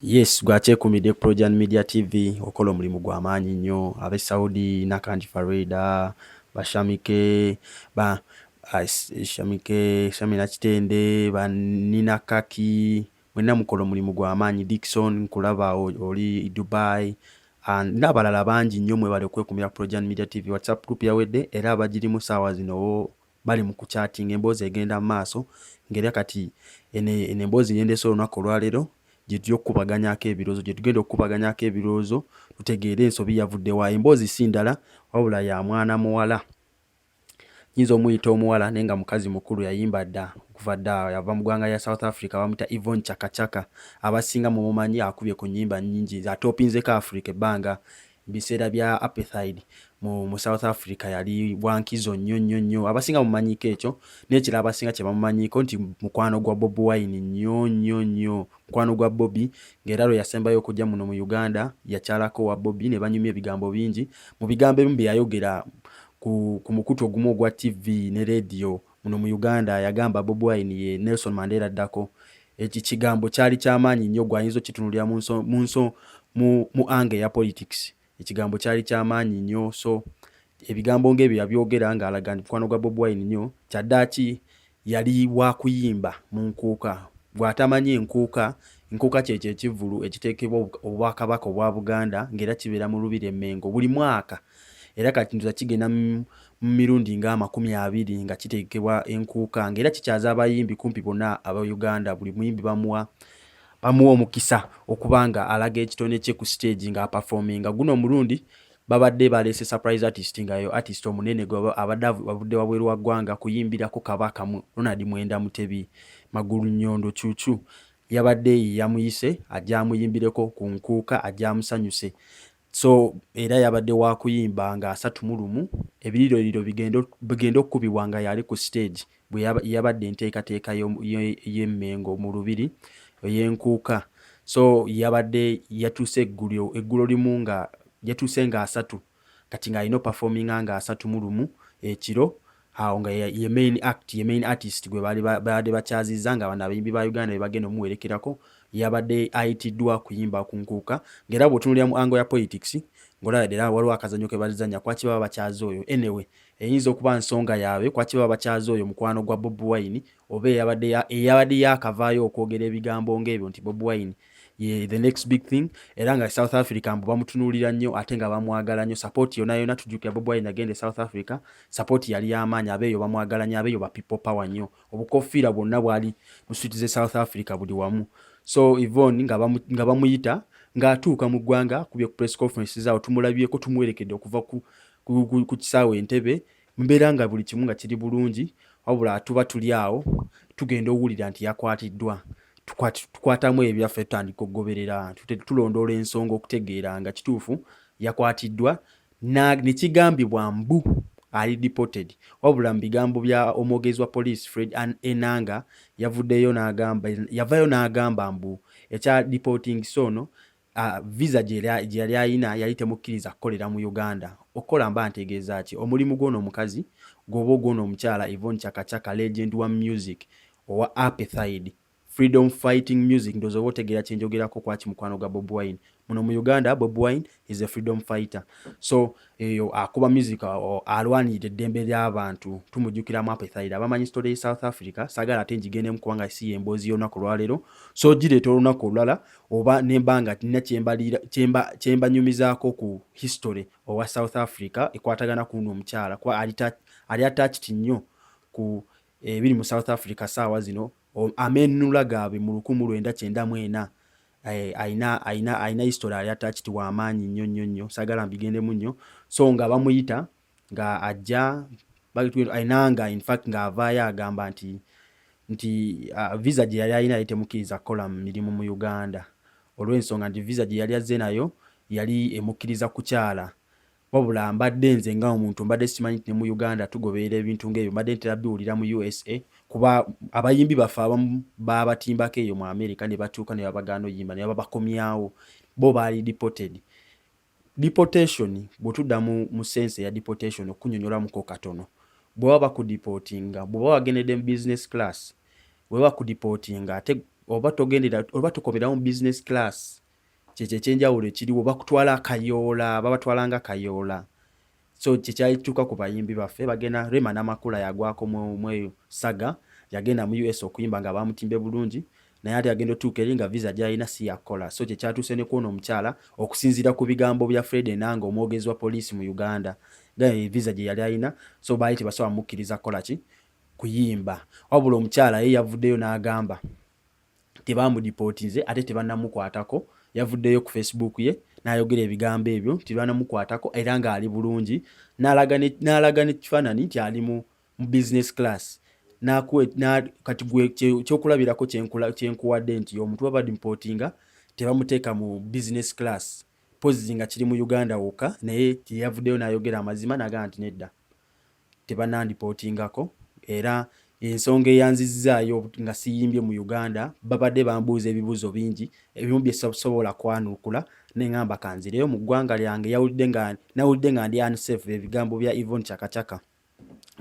Yes, gwakyekumidde ku Projan Media TV okola omulimu gwa maanyi nnyo abe Saudi Nakanji Farida bashamike ba ah, shamike Shamina Kitende ba Nina Kaki mwenna mukola omulimu gwa maanyi Dickson nkulaba oli Dubai and n'abalala bangi nnyo mwebale okwekumira ku Projan Media TV WhatsApp group yawedde era abagirimu saawa zino bali mu kucyatinga emboozi egenda mu maaso ng'era kati eno eno emboozi gye ndeese olunaku olwaleero gye tujja okukubaganyako ebirowoozo gye tugenda okukubaganyako ebirowoozo tutegeere ensobi yavudde wa emboozi si ndala wabula ya mwana muwala nyinza omuyita omuwala naye nga mukazi mukulu yayimba dda okuva dda yava mu ggwanga lya south africa bamuyita evon chakachaka abasinga mumumanyi akubye ku nyimba nyingi atopinzeko africa ebbanga biseera bya apethide mu, mu south africa yali wankizo nnyo nnyo nnyo abasinga mumanyiko ekyo nekira abasinga kyebamumanyiko nti mukwano gwa bobi wine nnyo nnyo nnyo mukwano gwa bobi ngaera lwe yasembayo okujja muno mu uganda yakyalako wa bobi ne banyumya ebigambo bingi mu bigambo ebimu byeyayogera ku, ku mukutu ogumu ogwa tv ne rediyo Muno mu Uganda yagamba Bob Wine ye Nelson Mandela addako. Eki kigambo kyali ky'amaanyi nnyo gwe ayinza okitunulira mu nso mu nso mu mu ange eya politics. Ekigambo kyali ky'amaanyi nnyo so ebigambo ng'ebyo yabyogera ng'alaga nti mukwano gwa Bob Wine nnyo. Kyaddaaki yali waakuyimba mu Nkuuka. Gwe atamanyi Nkuuka, Nkuuka kyekyo ekivvulu ekiteekebwa Obwakabaka obwa Buganda ng'era kibeera mu Lubiri e Mmengo buli mwaka. era kati ndoza kigenda mu mirundi nga amakumi abiri nga kitegekebwa enkuuka nga era kikyaza abayimbi kumpi bonna aba uganda buli muyimbi bamuwa bamuwa omukisa okuba nga alaga ekitone kye ku stage nga apafominga guno omulundi babadde baleese surprise artist nga yo artist omunene abadde abudde wabweru wa ggwanga kuyimbirako kabaka mu ronald mwenda mutebi magulu nyondo cucu yabadde yamuyise ajja amuyimbireko ku nkuuka ajja amusanyuse so era yabadde wakuyimba nga asatu mu lumu ebiririroriro bigenda okukubibwa nga yali ku stage bwe yabadde enteekateeka y'emmengo mu lubiri ey'enkuuka so yabadde yatuuse eggulyo eggulo limu nga yatuuse nga asatu kati ng'alina opafominga nga asatu mu lumu ekiro awo nga ye main act ye main artist gwe baade bakyazizza nga bano abayimbi ba uganda bebagenda omuwerekerako yabadde ayitiddwa kuyimba ku nkuuka ngaera bwotunulira mu ango ya politics ngaolaba dera waliwo akazanyo kebazanya kwaki baba bakyaza oyo anyway eyinza okuba nsonga yaabwe kwaki baba bakyaza oyo mukwano gwa bob wine oba eyabadde yakavaayo okwogera ebigambo ngaebyo nti bob wine ye the next big thing era nga south africa mbu bamutunuulira nnyo ate nga bamwagala nnyo support yona yona tujjukira bob wine agenda e south africa support yali yamaanyi abeeyo bamwagala nnyo abeeyo ba people power nnyo obukofiira bwonna bwali mu switi ze south africa buli wamu so evon nga bamuyita ng'atuuka mu ggwanga kubye ku press conference zaawo tumulabyeko tumuwerekedde okuva ku kisaawe entebe mbeera nga buli kimu nga kiri bulungi wabula tuba tuli awo tugenda owulira nti yakwatiddwa tukwatamu ebyaffe tutandika okugoberera tulondoola ensonga okutegeera nga kituufu yakwatiddwa nekigambibwa mbu ali deported wabula mu bigambo bya omwogezi wa poliisi fred enanga yavuddeyo nagamba yavayo n'agamba mbu ekya deporting soono uh, visa gye yali alina yali temukkiriza kukolera mu uganda okukola mba ntegeeza ki omulimu gwona omukazi gwoba ogwona omukyala evon chakachaka legend wa music owa apethide freedom fighting music ndoza oba otegeera kyenjogerako kwaki mukwano gwa bob wine muno mu uganda bob wine is a freedom fighter so eyo akuba music alwanirira eddembe ly'abantu tumujjukira mu apethide abamanyi story south africa sagala ate ngigendemu kubanga si yemboozi y'olunaku olwaleero so gireeta olunaku olulala oba nemba nga nina kyembanyumizaako ku history owa south africa ekwatagana kuno omukyala kuba ali attached nnyo ku ebiri mu south africa saawa zino amenunula gaabwe mu lukumi lwenda kyenda mu ena Eh, aina aina aina history ya attached wa amaanyi nnyo nnyo nnyo sagala mbigendemu nnyo so nga bamuyita nga ajja aina nga in fact nga avaayo agamba nti nti uh, visa gye yali alina yali temukkiriza kukola mu mirimu mu uganda olw'ensonga nti visa gye yali azze nayo yali emukkiriza kukyala wabula mbadde nze nga omuntu mbadde sikimanyi nti ne mu uganda tugoberera ebintu ngaebyo mbadde ntera biwulira mu usa kuba abayimbi baffe abamu babatimbako eyo mu america ne batuuka ne babagaana oyimba ne babakomyawo bo baali deported deportation bwetudda mu sense eya deportation okunyonyolamuko katono bwebaba bakudipotinga bweba wagendedde mu business class weba bakudipotinga ate oba togendera oba tukomerawo mu business class kyekyo ekyenjawulo ekiriwo bakutwala akayoola babatwalanga kayoola so kyekyakituuka ku bayimbi baffe bagenda rema namakula yagwako mweyo saga yagenda mu us okuyimba nga bamutimbe bulungi naye ate agenda otuuka eri nga visa gyalina si yakukola so kyekyatuuse ne kwona omukyala okusinziira ku bigambo bya fred enanga omwogezi wa poliisi mu uganda eh, visa gye yali alina so baali tebasobola mukkiriza kukola ki kuyimba wabula omukyala ye yavuddeyo n'agamba tebamudipotinze ate tebanamukwatako yavuddeyo ku facebook ye nayogera ebigambo ebyo nti banamukwatako era ng'ali bulungi n'alaga nekifaananyi nti ali mu business class kati gwe kyokulabirako kyenkuwadde nti omuntu babadimpotinga tebamuteeka mu business class pozzi nga kiri mu uganda wokka naye teyavuddeyo nayogera amazima nagaa nti nedda tebanandipotingako era ensonga eyanzizzaayo nga siyimbye mu uganda babadde bambuuza ebibuuzo bingi ebimu byesasobola kwanuukula neŋamba kanzireyo mu ggwanga lyange yawulidde nga nawulidde nga ndi unsafe ebigambo bya evon chakachaka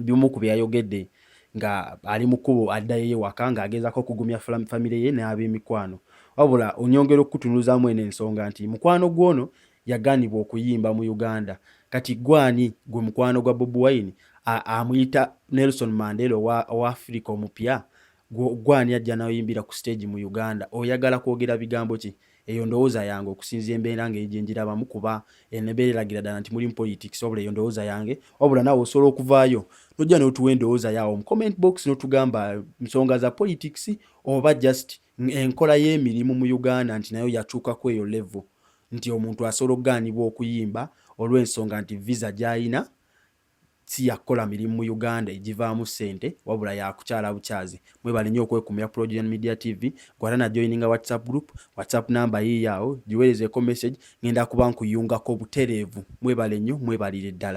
bimu ku byeyayogedde nga ali mu kkubo addayo ewaka ng'agezaako okugumya famire ye n'ab'emikwano wabula onyongera okukutunuzaamu eno ensonga nti mukwano gw'ono yaganibwa okuyimba mu Uganda kati gwe ani gwe mukwano gwa Bobi Wine amuyita Nelson Mandela owa Africa omupya gwe ani ajja nayoyimbira ku stage mu Uganda oyagala kwogera bigambo ki eyo ndowooza yange okusinzia embeera nga egyenjirabamu kuba enebeera eragira ddala nti mulimu politics wabula eyo ndowooza yange wabula nawe osobola okuvaayo nojja notuwa endowooza yaawo mu comment box notugamba nsonga za politics oba just Enkola y'emirimu mu Uganda nti nayo yakyuka ku eyo levo nti omuntu asobola okugaanibwa okuyimba olw'ensonga nti visa gy'alina si ya kukola mirimu mu Uganda egivaamu ssente wabula ya kukyala bukyazi. Mwebale nnyo okwekumira Progen Media TV. Gwata na joininga WhatsApp group, WhatsApp namba yiiyo awo, giweerezeeko message ng'enda kuba nkuyungako butereevu. Mwebale nnyo, mwebalire ddala.